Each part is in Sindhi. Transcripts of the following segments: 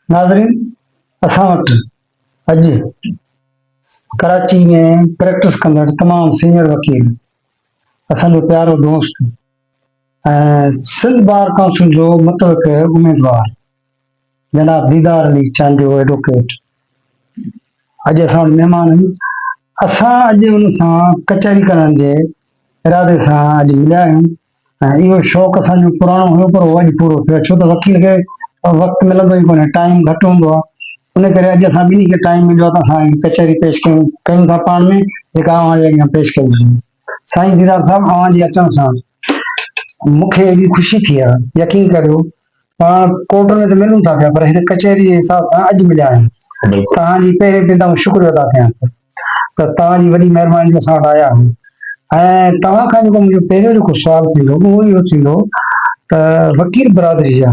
ناظرين اسان وٽ اڄ ڪراچي ۾ پريڪٽس ڪندڙ تمام سينئر وڪيل اسان جو پيارو دوست ۽ سنڌ بار ڪائونسل جو متوقع اميدوار جناب ديدار علي چانڊيو ايڊووڪيٽ اڄ اسان وٽ مهمان آهن اسان اڄ ان سان ڪچهري ڪرڻ جي ارادي سان اڄ مليا آهيون ۽ اهو شوق اسان جو پراڻو هيو پر اهو اڄ پورو ٿيو آهي ڇو ته وڪيل کي وقت ملندو ئي ڪونهي ٽائيم گهٽ هوندو آهي ان ڪري اڄ اسان ٻنهي کي ٽائيم مليو آهي ته اسان ڪچهري پيش ڪيون ڪيون ٿا پاڻ ۾ جيڪا اوهان جي اڳيان پيش ڪئي آهي سائين ديدار صاحب اوهان جي اچڻ سان مون کي ايڏي خوشي ٿي آهي يقين ڪريو پاڻ ڪورٽ ۾ ته ملون ٿا پيا پر هن ڪچهري جي حساب سان اڄ مليا آهيون. توهان جي پهرين پيدا آئون شڪريو ادا ڪيان ٿو ته توهان جي وڏي مهرباني جو اسان وٽ آيا آهيون ۽ توهان کان جيڪو منهنجو پهريون جيڪو سوال ٿيندو اهو اهو ٿيندو ته وڪيل برادري جا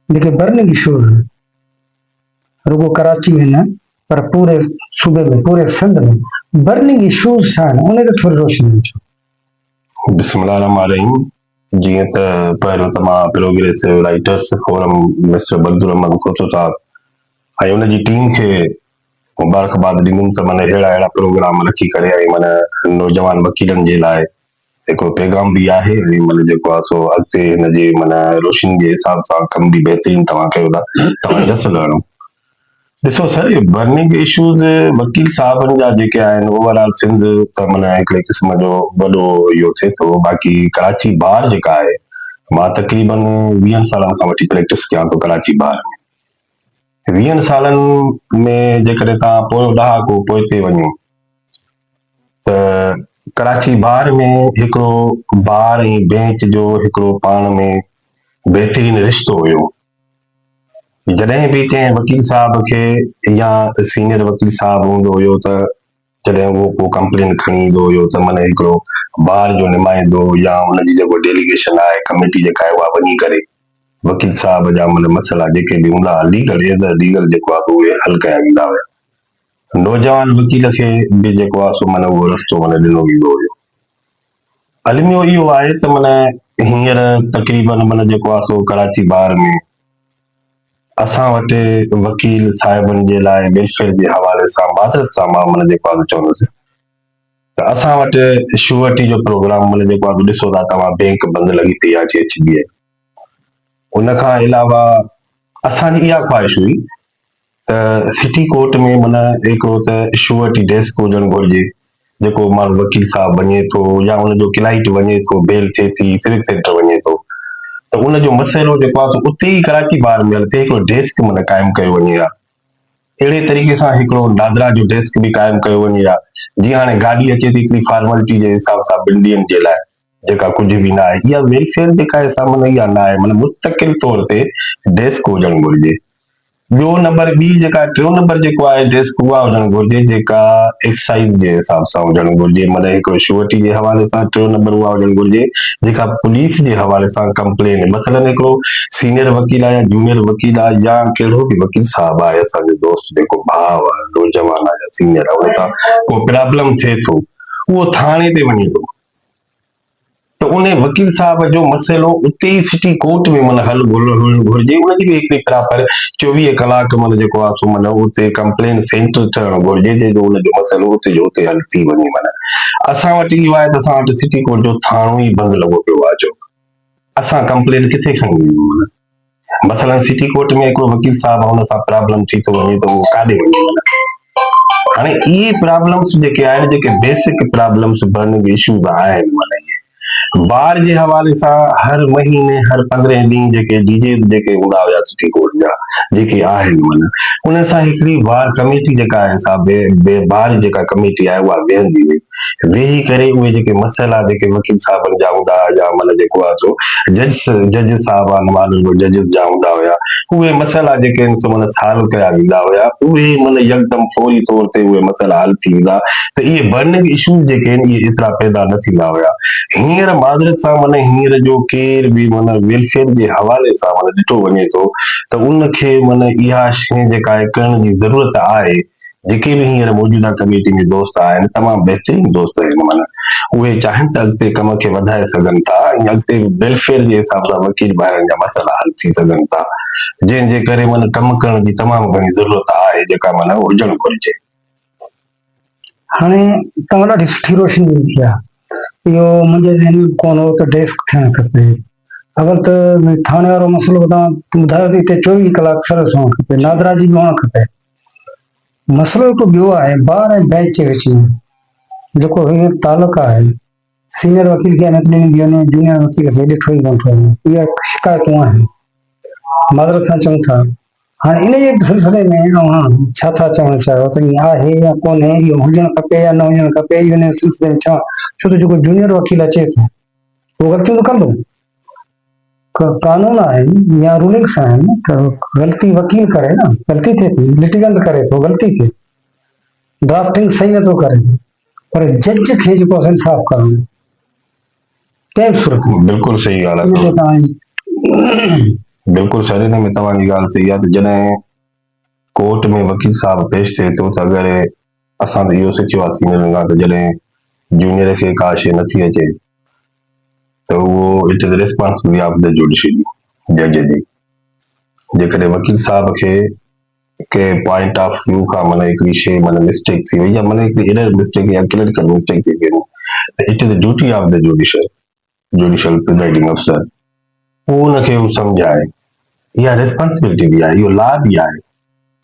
جيڪي برننگ اشوز آهن رڳو ڪراچي ۾ نه پر پوري صوبي ۾ پوري سنڌ ۾ برننگ اشوز ڇا آهن ان تي ٿوري روشني وجھو بسم الله الرحمن الرحيم جيئن ته پهريون ته مان پروگريسو رائيٽرس فورم مسٽر بدرحمان کوچو صاحب ۽ ان جي ٽيم کي مبارڪباد ڏيندم ته من اهڙا اهڙا پروگرام رکي ڪري ۽ من نوجوان وڪيلن جي لاء هڪڙو پيغام به آهي ۽ من جيڪو آهي سو اڳتي هن جي من روشني جي حساب سان ڪم به بهترين توهان ڪيو ٿا توهان جس لهڻو ڏسو سر اهي برننگ اشوز وڪيل صاحبن جا جيڪي آهن اوور آل سنڌ ته منا هڪڙي قسم جو وڏو اهو ٿئي ٿو باقي ڪراچي بار جيڪا آهي مان تقريبن ويهن سالن کان وٺي پريڪٽس ڪيان ٿو ڪراچي بار ۾ ويهن سالن ۾ جيڪڏهن توهان پويو ڏهاڪو پوئتي وڃو ته ڪراچي بار ۾ هڪڙو بار ۽ بينچ جو هڪڙو پاڻ ۾ بهترين رشتو هيو جڏهن به ڪنهن وڪيل صاحب کي يا سينئر وڪيل صاحب هوندو هيو ته جڏهن اهو ڪو ڪمپلين کڻي ايندو هيو ته من هڪڙو بار جو نمائندو يا ان جي جيڪو ڊيليگيشن آهي ڪميٽي جيڪا آهي اها وڃي ڪري وڪيل صاحب جا من مسئلا جيڪي به هوندا ها ليگل ايز اي ليگل جيڪو آهي اهي حل ڪيا ويندا هيا نوجوان وڪيل کي به جيڪو آهي سو من اهو رستو من ڏنو ويندو هيو. الميو اهو آهي ته من هينئر تقريباً من جيڪو آهي سو ڪراچي بار ۾ اسان وٽ وڪيل صاحبن جي لاء ويلفيئر جي حوالي سان معذرت سان مان من جيڪو آهي چوندس ته اسان وٽ شوئرٽي جو پروگرام من جيڪو آهي ڏسو ٿا توهان بينڪ بند لڳي پئي آهي جي ايڇ بي ايل ان کان علاوه اسان جي اها خواهش هئي ته سٽي ڪورٽ ۾ معنيٰ هڪڙو ته شوئرٽي ڊيسڪ هجڻ گهرجي جيڪو ماڻهو وڪيل صاحب وڃي ٿو يا ان جو ڪلائنٽ وڃي ٿو بيل ٿئي ٿي سول سينٽر وڃي ٿو ته ان جو مسئلو جيڪو آهي سو اتي ئي ڪراچي بار ميل تي هڪڙو ڊيسڪ معنيٰ قائم ڪيو وڃي ها اهڙي طريقي سان هڪڙو دادرا جو ڊيسڪ به قائم ڪيو وڃي ها جيئن هاڻي گاڏي اچي ٿي هڪڙي فارملٽي جي حساب سان ٻن ڏينهن جي لاء جيڪا ڪجهه به نه آهي اها ويلفيئر جيڪا آهي سا معنيٰ اها نه آهي مطلب مستقل طور تي ڊيسڪ هجڻ گهرجي. ٻيو نمبر ٻي جيڪا ٽيون نمبر جيڪو آهي ڊيسڪ اها هجڻ گهرجي جيڪا ايڪسائيز جي حساب سان هجڻ گهرجي معنيٰ هڪ شوئٽي جي حوالي سان ٽيون نمبر اها هجڻ گهرجي جيڪا پوليس جي حوالي سان ڪمپلين مثلاً هڪڙو سينئر وڪيل آهي يا جونئر وڪيل آهي يا ڪهڙو به وڪيل صاحب آهي اسان جو دوست جيڪو ڀاء آهي نوجوان آهي يا سينئر آهي ان سان ڪو پرابلم ٿئي ٿو اهو ٿاڻي تي وڃي ٿو ته ان وڪيل صاحب جو مسئلو اتي ئي سٽي ڪورٽ ۾ مون حل ڳولڻ گهرجي ان جي به هڪڙي پراپر چوويهه ڪلاڪ مون جيڪو آ سو مون اتي ڪمپلينٽ سينٽر ٺهڻ گهرجي جنهن جو ان جو مسئلو اتي جو اتي حل ٿي وڃي معنيٰ اسان وٽ اهو آهي ته اسان وٽ سٽي ڪورٽ جو ٿاڻو ئي بند لڳو پيو آ جو اسان ڪمپلينٽ ڪٿي کڻي وڃون مثلا سٽي ڪورٽ ۾ ھڪڙو وڪيل صاحب ان سان پرابلم ٿي ٿو وڃي تھ اھو ڪاڏي وڃي ھاڻي اھي پرابلمس جيڪي آھن جيڪي بيسڪ پرابلمس برننگ اشوز آھن بار جي حوالي سان ھر مھيني ھر پندرھين ڏينھن جيڪي ڊي جي جيڪي ھوندا ھيا سٽي ڪورٽ جا جيڪي آھن معنيٰ انھن سان ھڪڙي بار ڪميٽي جيڪا آھي سا بار جيڪا ڪميٽي آھي اھا ويھندي ھئي ويهي ڪري اهي جيڪي مسئلا جيڪي وڪيل صاحبن جا هوندا ها يا معنيٰ جيڪو آهي سو جج جج صاحب آهن معنيٰ جو ججز جا هوندا هيا اهي مسئلا جيڪي آهن سو معنيٰ سالو ڪيا ويندا هيا اهي معنيٰ يڪدم فوري طور تي اهي مسئلا حل ٿي ويندا ته اهي برننگ اشوز جيڪي آهن اهي ايترا پيدا نه ٿيندا هيا هينئر معذرت سان معنيٰ هينئر جو ڪير به معنيٰ ويلفيئر جي حوالي سان معنيٰ ڏٺو وڃي ٿو ته ان کي معنيٰ اها شيء جيڪا آهي ڪرڻ جي ضرورت آهي جيڪي به هينئر موجوده ڪميٽي ۾ دوست آهن تمام بهترين دوست آهن معنيٰ اهي چاهن ته اڳتي ڪم کي وڌائي سگهن ٿا ۽ اڳتي به ويلفيئر جي حساب سان وڪيل ڀائرن جا مسئلا حل ٿي سگهن ٿا جنهن جي ڪري معنيٰ ڪم ڪرڻ جي تمام گهڻي ضرورت آهي جيڪا معنيٰ هجڻ گهرجي. هاڻي توهان ڏاڍي سٺي روشني وڌي آهي اهو منهنجي ذهن ۾ به ڪونه هو ته ڊيسڪ ٿيڻ کپي اول ته ٿاڻي وارو مسئلو توهان ٻڌايو ته هتي چوويهه ڪلاڪ سروس هئڻ کپي نادرا جي به هئڻ کپي مسئلو هڪ ٻيو آهي بار ۽ بئنچ جي وچ ۾ جيڪو هي تعلق آهي، سينئر وڪيل کي اهميت ڏني ويندي وڃي، جونيئر وڪيل کي ڏٺو ئي ڪونه ٿو وڃي، اهي شڪايتون آهن. معذرت سان چئون ٿا. هاڻي ان جي سلسلي ۾ اوهان ڇا ٿا چوڻ چاهيو ته ائين آهي يا ڪونهي، اهو هجڻ کپي يا نه هجڻ کپي، اهو ان سلسلي ۾ ڇا، ڇو ته جيڪو جونيئر وڪيل اچي ٿو اهو غلطيون ته ڪندو. قانون آهن يا رولنگس آهن ته غلطي وڪيل ڪري نه غلطي ٿئي ٿي لٽيگينٽ ڪري ٿو غلطي ٿئي ڊرافٽنگ صحيح نٿو ڪري پر جج کي جيڪو آهي انصاف ڪرڻو تنهن صورت ۾ بلڪل صحيح ڳالهه آهي بلڪل سر هن ۾ توهان جي ڳالهه صحيح آهي ته جڏهن ڪورٽ ۾ وڪيل صاحب پيش ٿئي ٿو ته اگر اسان ته اهو سکيو آهي سينئرن کان ته جڏهن جونيئر کي ڪا شيء نٿي اچي ته اهو it is responsibility of the judiciary, جج جي. جيڪڏهن وڪيل صاحب کي ڪنهن پوائنٽ آف ويو کان معنيٰ هڪڙي شيء معنيٰ مسٽيڪ ٿي وئي يا معنيٰ هڪڙي ايرر مسٽيڪ يا ڪليريڪل مسٽيڪ ٿي وئي ته it is duty of the judiciary. Judicial presiding افسر هو ان کي هو سمجهائي اها ريسپانسبلٽي به آهي اهو لا به آهي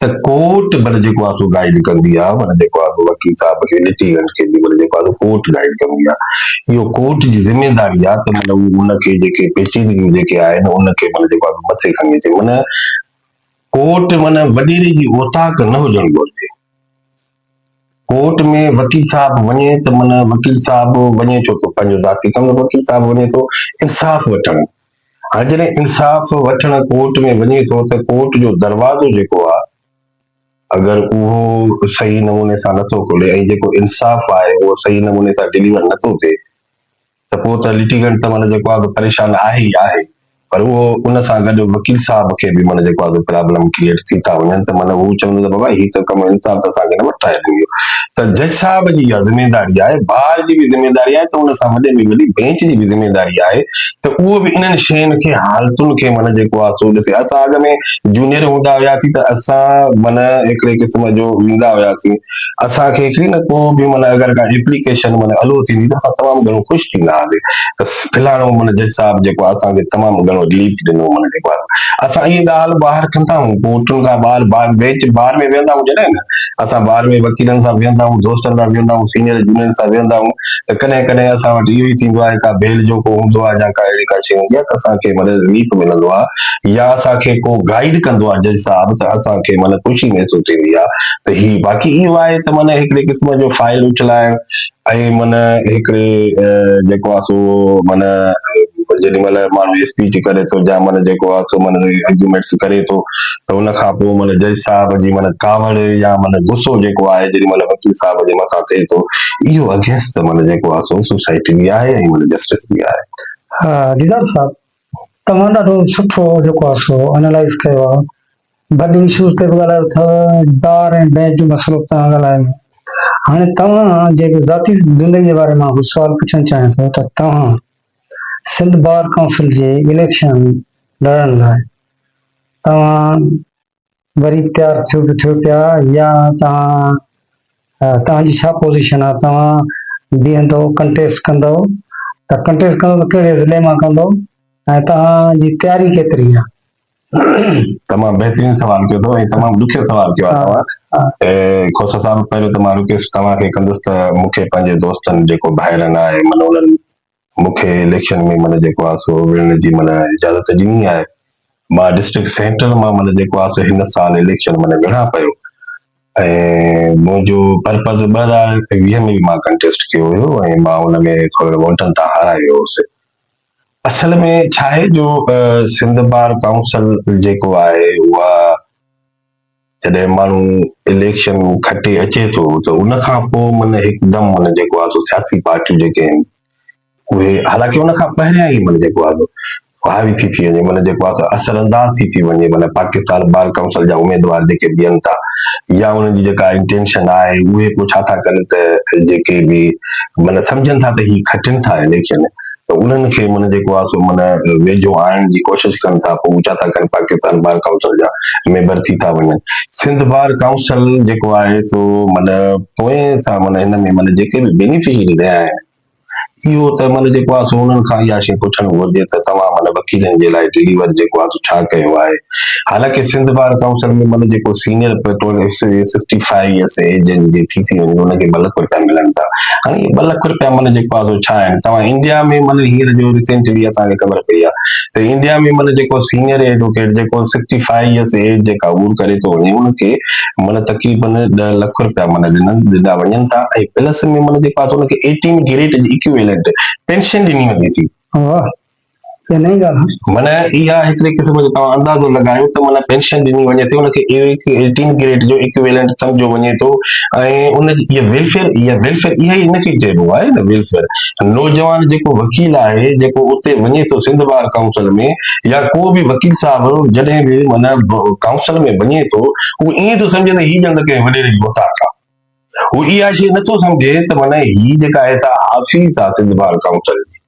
ته ڪورٽ بل جيڪو آهي سو گائيڊ ڪندي آهي ورنه جيڪو آهي وڪيل صاحب کي لٽيگنٽ کي به ورنه جيڪو آهي ڪورٽ گائيڊ ڪندي آهي اهو ڪورٽ جي ذميواري آهي ته مطلب ان کي جيڪي پيچيدگيون جيڪي آهن ان کي مطلب جيڪو آهي مٿي کڻي اچي معنيٰ ڪورٽ معنيٰ وڏيري جي اوطاق نه هجڻ گهرجي ڪورٽ ۾ وڪيل صاحب وڃي ته من وڪيل صاحب وڃي ٿو ته پنهنجو ذاتي ڪم وڪيل صاحب وڃي ٿو انصاف وٺڻ هاڻي جڏهن انصاف وٺڻ ڪورٽ ۾ وڃي ٿو ته ڪورٽ جو دروازو جيڪو آهي اگر اهو صحيح نموني سان نٿو کولي ۽ جيڪو انصاف آهي اهو صحيح نموني سان ڊليور نٿو ٿئي ته پوء ته لٽيگنٽ ته معنيٰ جيڪو آهي سو پريشان آهي ئي آهي پر اهو ان سان گڏ وڪيل صاحب کي به معنيٰ جيڪو آهي سو پرابلم ڪريئيٽ ٿي ٿا وڃن ته معنيٰ هو چوندو ته بابا هي ته ڪم انصاف ته اسان کي نه وٺرائي ڏنو ويو ته جج صاحب جي اها ذميواري آهي بار جي به ذميواري آهي ته ان سان وڏي ۾ وڏي بينچ جي به ذميواري آهي ته اهو به انهن شين کي حالتن کي معنيٰ جيڪو آهي سو ڏسي اسان اڳ ۾ جونيئر هوندا هياسين ته اسان معنيٰ هڪڙي قسم جو ويندا هياسين اسان کي هڪڙي نه ڪو به معنيٰ اگر ڪا ايپليڪيشن معنيٰ الو ٿيندي ته اسان تمام گهڻو خوش ٿيندا هئاسين ته فلاڻو معنيٰ جج صاحب جيڪو آهي اسان کي تمام گهڻو رليف ڏنو معنيٰ جيڪو آهي اسان اهي ڳالهه ٻاهر ڪندا آهيون پوء اٺون ٿا ٻار بار بينچ بار ۾ ويهندا آهيون جڏهن نه اسان بار ۾ وڪيلن سان ويهندا آهيون دوستن سان ويهندا آهيون سينئر جونئر سان ويهندا آهيون ته ڪڏهن ڪڏهن اسان وٽ اهو ئي ٿيندو آهي ڪا بيل جو ڪو هوندو آهي يا ڪا اهڙي ڪا شيء هوندي آهي ته اسان کي معنيٰ رليف ملندو آهي يا اسان کي ڪو گائيڊ ڪندو آهي جج صاحب ته اسان کي معنيٰ خوشي محسوس ٿيندي آهي ته هي باقي اهو آهي ته معنيٰ هڪڙي قسم جو فائل اڇلائڻ ۽ معنيٰ هڪڙي جيڪو آهي سو معنيٰ جيڏي مهل ماڻهو اسپيچ ڪري ٿو يا معنيٰ جيڪو آهي سو معنيٰ آرگيومينٽس ڪري ٿو ته ان کان پوء معنيٰ جج صاحب جي معنيٰ ڪاوڙ يا معنيٰ غصو جيڪو آهي جيڏي مهل وڪيل صاحب جي مٿان ٿئي ٿو اهو اگينسٽ معنيٰ جيڪو آهي سو سوسائٽي به آهي ۽ معنيٰ جسٽس به آهي. ها ديدار صاحب توهان ڏاڍو سٺو جيڪو آهي سو انالائز ڪيو آهي بڊ ايشوز تي به ڳالهايو اٿئو ڊار ۽ بينچ جي مصروف تان ڳالهايو هاڻي توهان جي ذاتي زندگي جي باري مان ڪجهه سوال پڇڻ چاهيان ٿو ته توهان سنڌ بار ڪائونسل جي اليڪشن لڙڻ لاء توهان وري تيار ٿيو به ٿيو پيا يا توهان توهان جي ڇا پوزيشن آهي توهان بيهندو ڪنٽيسٽ ڪندو ته ڪنٽيسٽ ڪندو ته ڪهڙي ضلعي مان ڪندو ۽ توهان جي تياري ڪيتري آهي تمام بهترين سوال ڪيو اٿو ۽ تمام ڏکيو سوال ڪيو آهي توهان کوسا صاحب پهريون ته مان رڪويسٽ توهان کي ڪندس ته مون کي پنهنجي دوستن جيڪو ڀائرن آهي من انهن مون کي اليڪشن ۾ من جيڪو آهي سو وڙهڻ جي من اجازت ڏني آهي مان ڊسٽرڪٽ سينٽر مان من جيڪو آهي سو هن سال اليڪشن من وڙهان پيو ۽ منهنجو پرپز ٻه هزار ويهه ۾ به مان ڪنٽيسٽ ڪيو هيو ۽ مان ان ۾ ٿورڙن ووٽن تان هارايو هوس اصل ۾ ڇا آهي جو سنڌ بار ڪائونسل جيڪو آهي اها جڏهن ماڻهو اليڪشن کٽي اچي ٿو ته ان کان پوء من هڪدم من جيڪو آهي سو سياسي پارٽيون جيڪي آهن اهي حالانڪ ان کان پهريان ئي من جيڪو آهي حاوي ٿي ٿي وڃي من جيڪو آهي اثر انداز ٿي ٿي وڃي من پاڪستان بار ڪائونسل جا اميدوار جيڪي بيهن ٿا يا انهن جي جيڪا انٽينشن آهي اهي پوء ڇا ٿا ڪن ته جيڪي به من سمجهن ٿا ته هي کٽن ٿا اليڪشن ته انهن کي معنيٰ جيڪو آهي سو معنيٰ ويجهو آڻڻ جي ڪوشش ڪن ٿا پوء هو ڇا ٿا ڪن پاڪستان بار ڪائونسل جا ميمبر ٿي ٿا وڃن سنڌ بار ڪائونسل جيڪو آهي سو معنيٰ پوئين سان معنيٰ هن ۾ معنيٰ جيڪي به بينيفشري رهيا آهن اهو ته معنيٰ جيڪو آهي سو انهن کان اها شيء پڇڻ گهرجي ته توهان معنيٰ وڪيلن جي لاء ڊليور جيڪو آهي سو ڇا ڪيو آهي حالانڪ سنڌ بار ڪائونسل ۾ مطلب جيڪو سينئر پيٽرول سفٽي فائيو ايئرس ايج جي ٿي ٿي وڃي ان کي ٻه لک رپيا ملن ٿا ھاڻي اھي ٻه لک رپيا معنيٰ جيڪو آھي سو ڇا آھن توھان انڊيا ۾ معنيٰ ھينئر جو ريسينٽ جيڪا اسان کي خبر پئي آھي ته انڊيا ۾ معنيٰ جيڪو سينئر ايڊووڪيٽ جيڪو سفٽي فائيو ايئرس ايج جيڪا عبور ڪري ٿو وڃي ان کي معنيٰ تقريبن ڏهه لک رپيا معنيٰ ڏنل ڏنا وڃن ٿا ۽ پلس ۾ معنيٰ جيڪو آھي سو ان کي ايٽين گريڊ جي اڪيويلنٽ پينشن ڏني وڃي ٿي معنيٰ اها هڪڙي قسم جو توهان اندازو لڳايو ته معنيٰ پينشن ڏني وڃي ٿي ان کي ايٽين گريڊ جو ايڪويلنٽ سمجهيو وڃي ٿو ۽ ان جي اها ويلفيئر اها ويلفيئر اها ئي ان کي چئبو آهي نه ويلفيئر نوجوان جيڪو وڪيل آهي جيڪو اتي وڃي ٿو سنڌ بار ڪائونسل ۾ يا ڪو به وڪيل صاحب جڏهن به معنيٰ ڪائونسل ۾ وڃي ٿو هو ائين ٿو سمجهي ته هي ڄڻ ته ڪنهن وڏيري جي اوطاق آهي هو اها شيء نٿو سمجهي ته معنيٰ هي جيڪا آهي سا آفيس آهي سنڌ بار ڪائونسل جي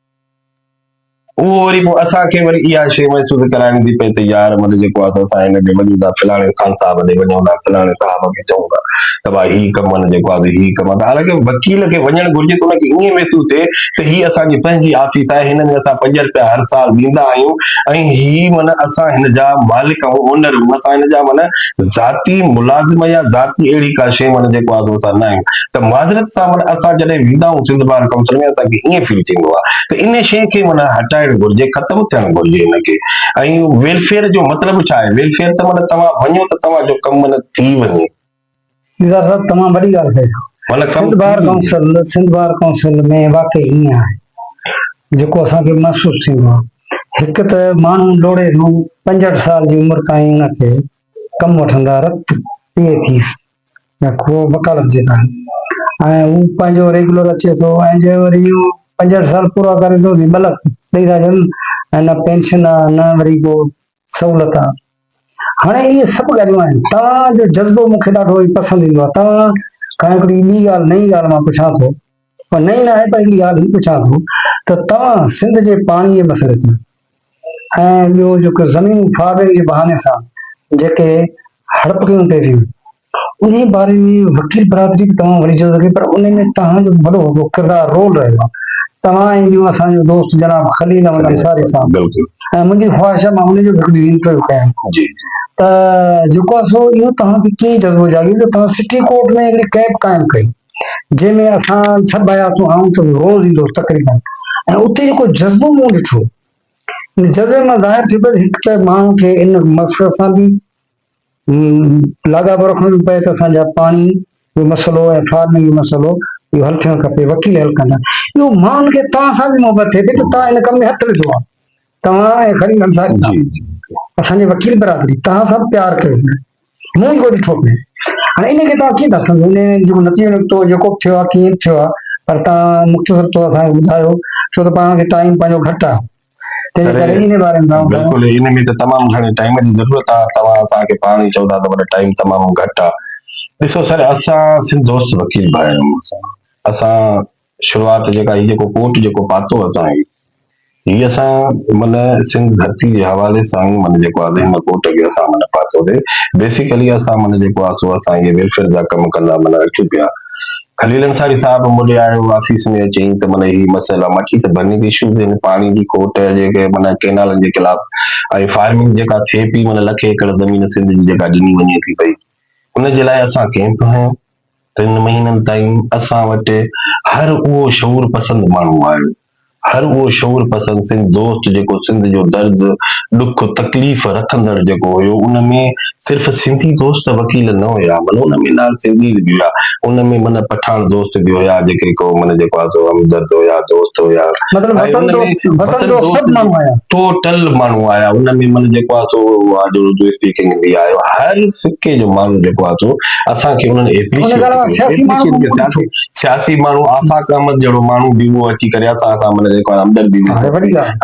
اهو وري پوء اسان کي وري اها شيء محسوس ڪرائڻ ٿي پئي ته يار مطلب جيڪو آهي سو اسان هن ڏي وڃون ٿا فلاڻي خان صاحب ڏي وڃون ٿا فلاڻي صاحب کي چئون ٿا ته ڀاء هي ڪم مطلب جيڪو آهي هي ڪم آهي حالانڪه وڪيل کي وڃڻ گهرجي ته ان کي ائين محسوس ٿئي ته هي اسان جي پنهنجي آفيس آهي هن ۾ اسان پنج رپيا هر سال ڏيندا آهيون ۽ هي معنيٰ اسان هن جا مالڪ آهيون اونر آهيون اسان هن جا معنيٰ ذاتي ملازم يا ذاتي اهڙي ڪا شيء معنيٰ جيڪو آهي سو اسان نه آهيون ته معذرت سان معنيٰ اسان جڏهن ويندا آهيون سنڌ بار ڪائونسل ۾ اسان کي ائين فيل ٿيندو آهي ته ان شيء کي معنيٰ هٽائڻ گهرجي ختم ٿيڻ گهرجي ان کي ۽ ويلفيئر جو مطلب ڇا آهي ويلفيئر ته معنيٰ توهان وڃو ته توهان جو ڪم معنيٰ ٿي وڃي. نثار صاحب تمام وڏي ڳالهه ڪئي اٿو. مطلب Sindh bar council Sindh bar council ۾ واقعي ائين آهي جيڪو اسان کي محسوس ٿيندو آهي هڪ ته ماڻهو لوڙهي سان پنجهٺ سال جي عمر تائين ان کي ڪم وٺندا رت پيئي ٿيس يا کوهه وڪالت جيڪا آهن ۽ هو پنهنجو ريگولر اچي ٿو ۽ جي وري اهو پنجهٺ سال پورا ڪري ٿو جي ملڪ ڏئي ٿا ڇڏن ۽ نه پينشن آهي نه وري ڪو سهولت آهي هاڻي اهي سڀ ڳالهيون آهن توهان جو جذبو مون کي ڏاڍو ئي پسند ايندو آهي توهان کان هڪڙي ٻي ڳالهه نئين ڳالهه مان پڇان ٿو پر نئين نه آهي پر هڪڙي ڳالهه هي پڇان ٿو ته توهان سنڌ جي پاڻي جي مسئلي تي ۽ ٻيو جيڪو زمين فارغي جي بهاني سان جيڪي هڙپ ڪيون پئي ويون، انهي باري ۾ وڪيل برادري به توهان وڙهجي سگهي، پر انهي ۾ توهان جو وڏو ڪردار، رول، رهيو آهي. توهان ۽ ٻيو اسان جو دوست جناب خليل احمد انصاري صاحب ۽ منهنجي خواهش آهي مان انهي جو به هڪ ڏينهن انٽرويو ڪيان ته جيڪو آهي سو اهو توهان کي ڪيئن جذبو جاڳيو جو توهان سٽي ڪورٽ ۾ هڪڙي ڪئمپ قائم ڪئي. جنهن ۾ اسان سڀ آياسون آئون ته روز ايندو هوس تقريبن ۽ اتي جيڪو جذبو مون ڏٺو ان جذبي مان ظاهر ٿيو ته هڪ ته ماڻهو کي ان مقصد سان به لاڳاپو رکڻو ٿو پئي ته اسان جا پاڻي جو مسئلو ۽ فارمنگ جو مسئلو اهو حل ٿيڻ کپي وڪيل حل ڪندا ٻيو ماڻهن کي توهان سان به محبت ٿئي پئي ته توهان ان ڪم ۾ هٿ وڌو آهي توهان ۽ خليل انصاري صاحب اسان جي وڪيل برادري توهان سان پيار ڪيو پيو مون ئي ڪو ڏٺو پيو هاڻي ان کي توهان ڪيئن ٿا سمجهو ان جيڪو نتيجو نڪتو جيڪو به ٿيو آهي ڪيئن به ٿيو آهي پر توهان مختصر طور اسان کي ٻڌايو ڇو ته پاڻ کي ٽائيم پنهنجو گهٽ آهي تنهن ڪري ان جي باري ۾ تمام گهڻو بلڪل ان ۾ ته تمام گهڻي ٽائيم جي ضرورت آهي توهان اسان کي پاڻ ئي چئو ٿا ته وڏا ٽائيم تمام گهٽ آهي ڏسو سر اسان سنڌ دوست وڪيل ڀائر آهيون اسان شروعات جيڪا هي جيڪو ڪوٽ جيڪو پاتو اسان هي هي اسان من سنڌ ڌرتي جي حوالي سان هي من جيڪو آهي هن ڪوٽ کي اسان من پاتو سي بيسيڪلي اسان من جيڪو آهي سو اسان هي ويلفيئر جا ڪم ڪندا من اچون پيا خليل انصاري صاحب مڏي آيو آفيس ۾ اچي ته من هي مسئلا ماچي ته برننگ ايشوز هن پاڻي جي کوٽ جيڪي من ڪينالن جي خلاف ۽ فارمنگ جيڪا ٿئي پي من لکين ايڪڙ زمين سنڌ جي جيڪا ڏني وڃي ٿي پئي ان جي لاء اسان ڪيمپ هنيو ٽن مهينن تائين اسان وٽ هر اهو شعور پسند ماڻهو آيو، هر اهو شعور پسند سنڌ دوست جيڪو سنڌ جو درد، ڏک، تڪليف رکندڙ جيڪو هيو ان ۾ صرف سنڌي دوست وڪيل نه هيا معنيٰ ان ۾ نان سنڌيز به هيا ان ۾ معنيٰ پٺاڻ دوست به هيا جيڪي ڪو معنيٰ جيڪو آ سو همدرد هيا دوست هيا مطلب وطن دوست وطن دوست سڀ ماڻهو آيا. ٽوٽل ماڻهو آيا ان ۾ معنيٰ جيڪو آ سو اهو آ جو اسپيڪنگ به آيو هر سڪي جو ماڻهو جيڪو آ سو اسان کي انهن جي سياسي ماڻهو آفاق احمد جهڙو ماڻهو به هو اچي ڪري اسان سان ملي جيڪو همدردي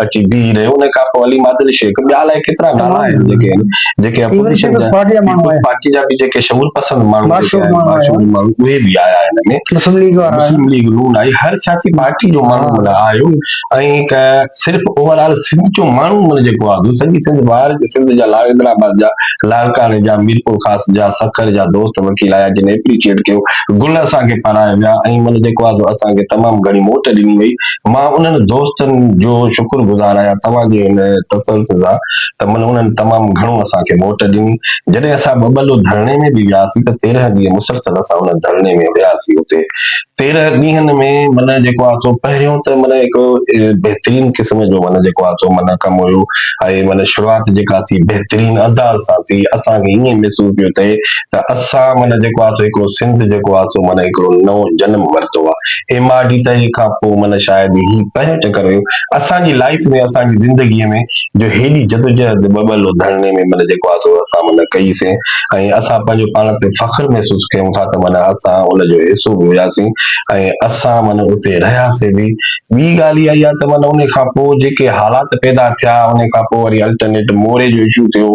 اچي بيهي رهيو ان کان پوء علي مادل شيخ ٻيا الائي ڪيترا نالا آهن جيڪي آهن جيڪي اپوزيشن جا پارٽي جا به جيڪي شعور پسند ماڻهو اهي به آيا آهن ان ۾ مسلم ليگ وارا مسلم ليگ نون آئي هر سياسي پارٽي جو ماڻهو مطلب آيو ۽ هڪ صرف اوور آل سنڌ جو ماڻهو مطلب جيڪو آهي سڄي سنڌ ٻاهر سنڌ جا لاڙڪاڻي آباد جا لاڙڪاڻي جا ميرپورخاص جا سکر جا دوست وڪيل آيا جن ايپريشيئٽ ڪيو گل اسان کي پارايا ويا ۽ من جيڪو آهي سو اسان کي تمام گهڻي موٽ ڏني وئي مان انهن دوستن جو شڪر گذار آهيان توهان جي ان تسلسل سان ته من انهن تمام گهڻو اسان کي موٽ ڏني جڏهن اسان ٻٻلو ڌرڻي ۾ به وياسي ته تيرنهن ڏينهن مسلسل اسان ان ڌرڻي ۾ هياسي اتي تيرهن ڏينهن ۾ معنيٰ جيڪو آ سو پهريون ته معنيٰ هڪ بهترين قسم جو معنيٰ جيڪو آ سو معنيٰ ڪم هيو ۽ معنيٰ شروعات جيڪا ٿي بهترين انداز سان ٿي اسان کي ائين محسوس پيو ٿئي ته اسان معنيٰ جيڪو آ سو هڪڙو سنڌ جيڪو آ سو معنيٰ هڪڙو نئون جنم ورتو آ ايم آر ڊي تحريڪ کان پوء معنيٰ شايد هي پهريون چڪر هيو اسان جي لائيف ۾ اسان جي زندگي ۾ جو هيڏي جدوجهد ٻٻل ڌرڻي ۾ معنيٰ جيڪو آ سو اسان معنيٰ ڪئي سين ۽ اسان پنهنجو پاڻ تي فخر محسوس ڪيون ٿا ته معنيٰ اسان ان جو حصو به هياسين ۽ اسان معنيٰ اتي رهياسين به. ٻي ڳالهه اها آهي ته معنيٰ ان کان پوء جيڪي حالات پيدا ٿيا ان کان پوء وري الٽرنيٽ موري جو اشو ٿيو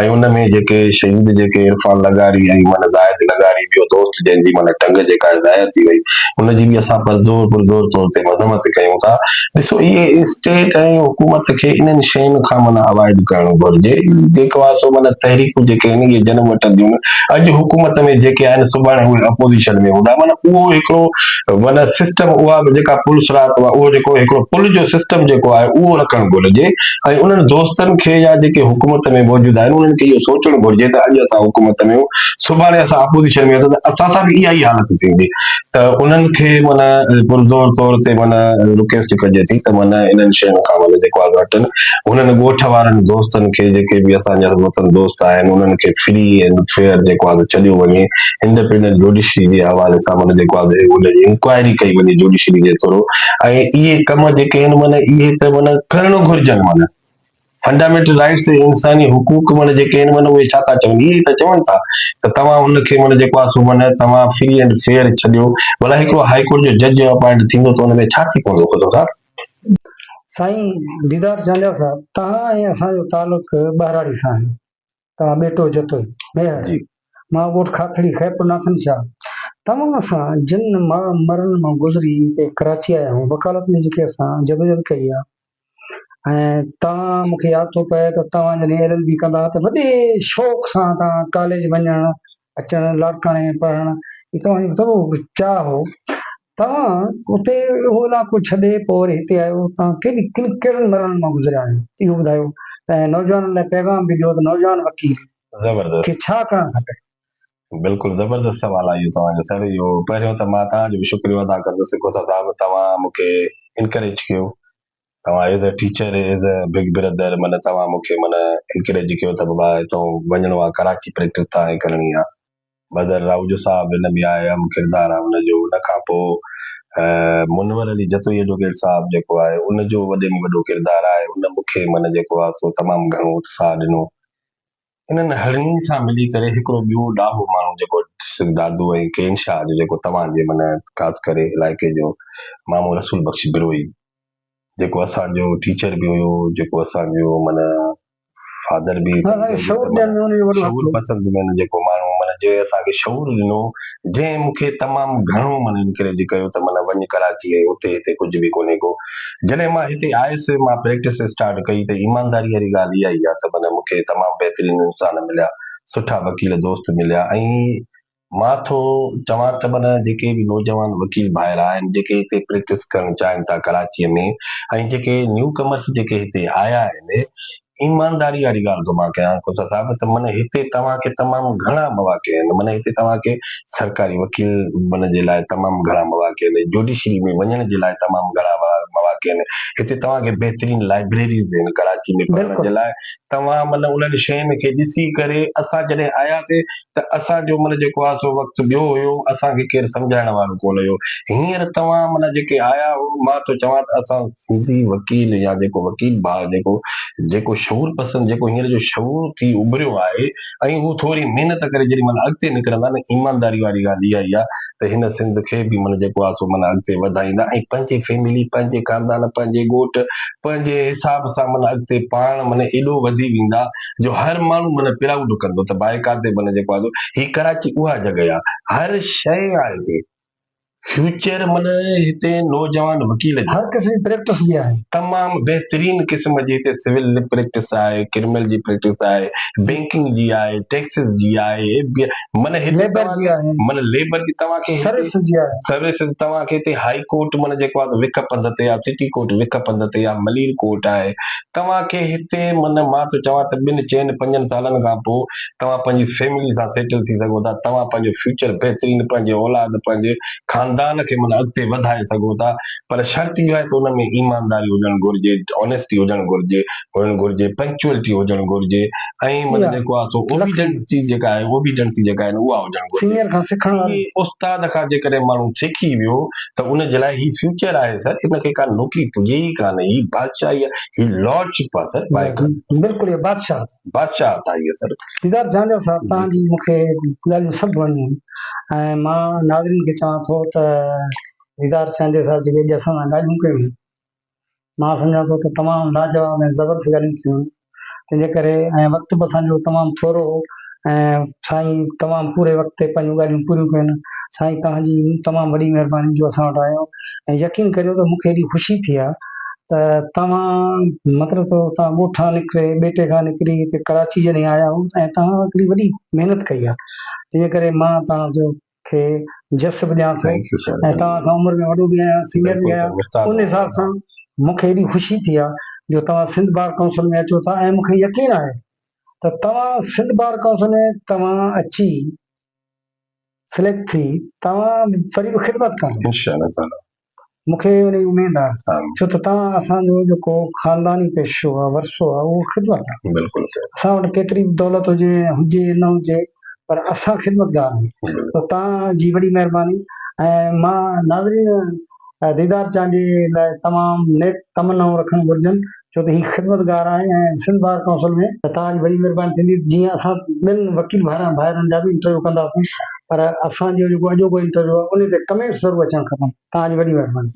۽ ان ۾ جيڪي شهيد جيڪي عرفان لغاري ۽ معنيٰ زاهد لغاري ٻيو دوست جنهن جي معنيٰ ٽنگ جيڪا آهي ضايع ٿي وئي ان جي به اسان پرزور پرزور طور تي مذمت ڪيون ٿا. ڏسو اهي اسٽيٽ ۽ حڪومت کي انهن شين کان معنيٰ اوائڊ ڪرڻ گهرجي. جيڪو آهي سو معنيٰ تحريڪون جيڪي انهيء جنم وٺنديون اڄ حڪومت ۾ جيڪي آهن سڀاڻي اهي اپوزيشن ۾ هوندا معنيٰ اهو هڪڙو معنيٰ سسٽم اها به جيڪا پولس رات هئا اهو جيڪو هڪڙو پل جو سسٽم جيڪو آهي اهو رکڻ گهرجي ۽ انهن دوستن کي يا جيڪي حڪومت ۾ موجود آهن انهن کي اهو سوچڻ گهرجي ته اڄ اسان حڪومت ۾ سڀاڻي اسان اپوزيشن ۾ هوندا ته اسان سان به اها ئي حالت ٿيندي ته انهن کي معنيٰ پرزور طور تي معنيٰ رڪويسٽ ڪجي ٿي ته معنيٰ انهن شين کان معنيٰ جيڪو آگاهه هٽن انهن ڳوٺ وارن دوستن کي جيڪي به اسان جا وطن دوست آهن انهن کي فري اينڊ فيئر جيڪو آگاهه ڇڏيو وڃي انڊپينڊنٽ جوڊيشري جي حوالي سان معنيٰ جيڪو آگاهه ان جي انڪوائري ڪئي وڃي جوڊيشري جي ٿرو ۽ اهي ڪم جيڪي آهن معنيٰ اهي ته معنيٰ ڪرڻ گهرجن معنيٰ Fundamental Rights تي انساني حقوق معنيٰ جيڪي آهن معنيٰ اهي ڇا ٿا چون؟ اهي ئي ته چون ٿا ته توهان ان کي معنيٰ جيڪو آهي سو معنيٰ توهان Free and Fair ڇڏيو ڀلا هڪڙو هائي ڪورٽ جو جج جو Appoint ٿيندو ته ان ۾ ڇا ٿي پوندو خدا داد؟ سائين ديدار جانيا صاحب توهان ۽ اسان جو تعلق ٻهراڙي سان آهي. توهان ٻيٽو جتوئي، ميهڙ، جي. مان ڳوٺ کاٿڙي خيرپور ناٿن شاهه توهان سان جن ماء مرن مان گذري هتي ڪراچي آيا آهيون وڪالت ۾ جيڪي اسان جدوجهد ڪئي آهي ۽ توهان مون کي ياد ٿو پئي ته توهان جڏهن ايل ايل بي ڪندا ها ته وڏي شوق سان توهان ڪاليج وڃڻ اچڻ لاڙڪاڻي ۾ پڙهڻ هي توهان جو وڏو چاهه هو توهان اتي اهو علائقو ڇڏي پوء وري هتي آيو، توهان ڪن ڪن ڪهڙن مرحلن مان گذريا آهيو، اهو ٻڌايو ۽ نوجوانن لاء پيغام به ڏيو ته نوجوان وڪيل زبردست کي ڇا ڪرڻ کپي. بلڪل زبردست سوال آهي اهو توهان جو سر اهو پهريون ته مان توهان جو به شڪريو ادا ڪندس ڪوسا صاحب توهان مونکي انڪريج ڪيو توهان as a teacher as a big brother من توهان مون کي من انڪريج ڪيو ته بابا هتون وڃڻو آ ڪراچي پريڪٽس تان هي ڪرڻي آ بدر راهوجو صاحب ان ۾ آء اهم ڪردار آ ان جو ان کان پوء منور علي جتوئي ايڊووڪيٽ صاحب جيڪو آهي ان جو وڏي ۾ وڏو ڪردار آهي ان مون کي من جيڪو آ سو تمام گهڻو اتساهه ڏنو انهن هرڻين سان ملي ڪري هڪڙو ٻيو ڏاهو ماڻهو جيڪو سنڌ دادو ۽ ڪين شاهه جو جيڪو توهان جي من خاص ڪري علائقي جو مامو رسول بخش بروهي جيڪو اسان جو ٽيچر به هيو جيڪو اسان جو من فادر به شعور پسند ۾ جيڪو ماڻهو من جنهن اسان کي شعور ڏنو جنهن مون کي تمام گهڻو من انڪريج ڪيو ته من وڃ ڪراچي ۽ اتي هتي ڪجهه به ڪونهي ڪو جڏهن مان هتي آيس، مان پريڪٽس اسٽارٽ ڪئي ته ايمانداري واري ڳالهه اها ئي آهي ته معنيٰ مون کي تمام بهترين انسان مليا، سٺا وڪيل دوست مليا ۽ مان ٿو چوان ته معنيٰ جيڪي به نوجوان وڪيل ڀائر آهن، جيڪي هتي پريڪٽس ڪرڻ چاهين ٿا ڪراچيء ۾ ۽ جيڪي نيو ڪمرس جيڪي هتي آيا آهن، ايمانداري واري ڳالهه ٿو مان ڪيان کوسا صاحب ته من هتي توهان کي تمام گهڻا مواقع آهن من هتي توهان کي سرڪاري وڪيل بنجڻ جي لاء تمام گهڻا مواقع آهن جوڊيشري ۾ وڃڻ جي لاء تمام گهڻا مواقع آهن هتي توهان کي بهترين لائبريريز آهن ڪراچي ۾ پڙهڻ جي لاء توهان من انهن شين کي ڏسي ڪري اسان جڏهن آياسي ته اسان جو من جيڪو آهي سو وقت ٻيو هيو اسان کي ڪير سمجهائڻ وارو ڪونه هيو هينئر توهان من جيڪي آيا هو مان ٿو چوان ته اسان سنڌي وڪيل يا جيڪو وڪيل ڀاء جيڪو جيڪو شعور پسند جيڪو هينئر جو شعور ٿي اڀريو آهي ۽ هو ٿوري محنت ڪري جيڏي مهل اڳتي نڪرندا نه ايمانداري واري ڳالهه اها ئي آهي ته هن سنڌ کي به من جيڪو آهي سو من اڳتي وڌائيندا ۽ پنهنجي فيملي پنهنجي خاندان پنهنجي ڳوٺ پنهنجي حساب سان من اڳتي پاڻ من ايڏو وڌي ويندا جو هر ماڻهو من پرائوڊ ڪندو ته بائڪار تي من جيڪو آهي سو هي ڪراچي اها جڳهه آهي هر شيء آهي هتي فيوچر معنيٰ هتي نوجوان وڪيل جي هر قسم جي پريڪٽس جي آهي تمام بهترين قسم جي هتي سول جي پريڪٽس آهي ڪرمنل جي پريڪٽس آهي بينڪنگ جي آهي ٽيڪسز جي آهي معنيٰ هتي ليبر جي آهي معنيٰ ليبر جي توهان کي سروس جي آهي سروس توهان کي هتي هائي ڪورٽ معنيٰ جيڪو آهي وک پنڌ تي آهي سٽي ڪورٽ وک پنڌ تي آهي ملير ڪورٽ آهي توهان کي هتي من مان ٿو چوان ته ٻن چئن پنجن سالن کان پوء توهان پنهنجي فيملي سان سيٽل ٿي سگهو ٿا توهان پنهنجو فيوچر بهترين پنهنجي اولاد پنهنجي خاندان کي من اڳتي وڌائي سگهو ٿا پر شرط اهو آهي ته ان ۾ ايمانداري هجڻ گهرجي Honesty هجڻ گهرجي هجڻ گهرجي Punctuality هجڻ گهرجي ۽ من جيڪو آهي سو Obediency جيڪا آهي Obediency جيڪا آهي اها هجڻ گهرجي سينئر کان سکڻ واري استاد کان جيڪڏهن ماڻهو سکي ويو. ته ان جي لاء هي فيوچر آهي سر ان کي ڪا نوڪري پڄي ئي ڪانه هي بادشاهي آهي هي لارڊ شپ آهي سر بائڪر بلڪل هي بادشاهه بادشاهه آهي هي سر ديدار جانجو صاحب تان جي مون کي ڳالهيون سڀ وڻيون ۽ مان ناظرين کي چوان ٿو ته ديدار جانجو صاحب جيڪي اڄ اسان سان ڳالهيون ڪيون مان سمجهان ٿو ته تمام لاجواب ۽ زبردست ڳالهيون ٿيون تنهن جي ڪري ۽ وقت به اسان جو تمام ٿورو هو ۽ سائين تمام پوري وقت تي پنهنجون ڳالهيون پوريون ڪيون سائين توهان جي تمام وڏي مهرباني جو اسان وٽ آيو ۽ يقين ڪريو ته مون کي ايڏي خوشي ٿي آ ته توهان مطلب ته توهان ڳوٺان نڪري ٻيٽي کان نڪري هتي ڪراچي جڏهن آيا هو ۽ توهان هڪڙي وڏي محنت ڪئي آ تنهن جي ڪري مان توهان جو کي جس به ڏيان ٿو ۽ توهان کان عمر ۾ وڏو به آهيان سينئر به آهيان ان حساب سان مون کي ايڏي خوشي ٿي آهي جو توهان سنڌ بار ڪائونسل ۾ اچو ٿا ۽ مون کي يقين آهي ته توهان سنڌ بار ڪائونسل ۾ توهان اچي سليڪٽ ٿي توهان فري خدمت ڪندا انشاء الله تعالي مون کي ان جي اميد آ ڇو ته توهان اسان جو جيڪو خانداني پيشو آ ورثو آ اهو خدمت آ بلڪل اسان وٽ ڪيتري به دولت هجي ۽ هجي نه هجي پر اسان خدمتگار آهيون ته توهان جي وڏي مهرباني ۽ مان ناظرين ديدار چانڊيي لاء تمام نيڪ تمنائون رکڻ گهرجن ڇو ته هي خدمتگار آهن ۽ سنڌ بار ڪائونسل ۾ ته توهان جي وڏي مهرباني ٿيندي ته جيئن اسان ٻين وڪيل ڀائرن ڀائرن جا به انٽرويو ڪنداسين پر اسان جو جيڪو اڄوڪو انٽرويو آهي انهي تي ڪمينٽس ضرور اچڻ کپن توهان جي وڏي مهرباني.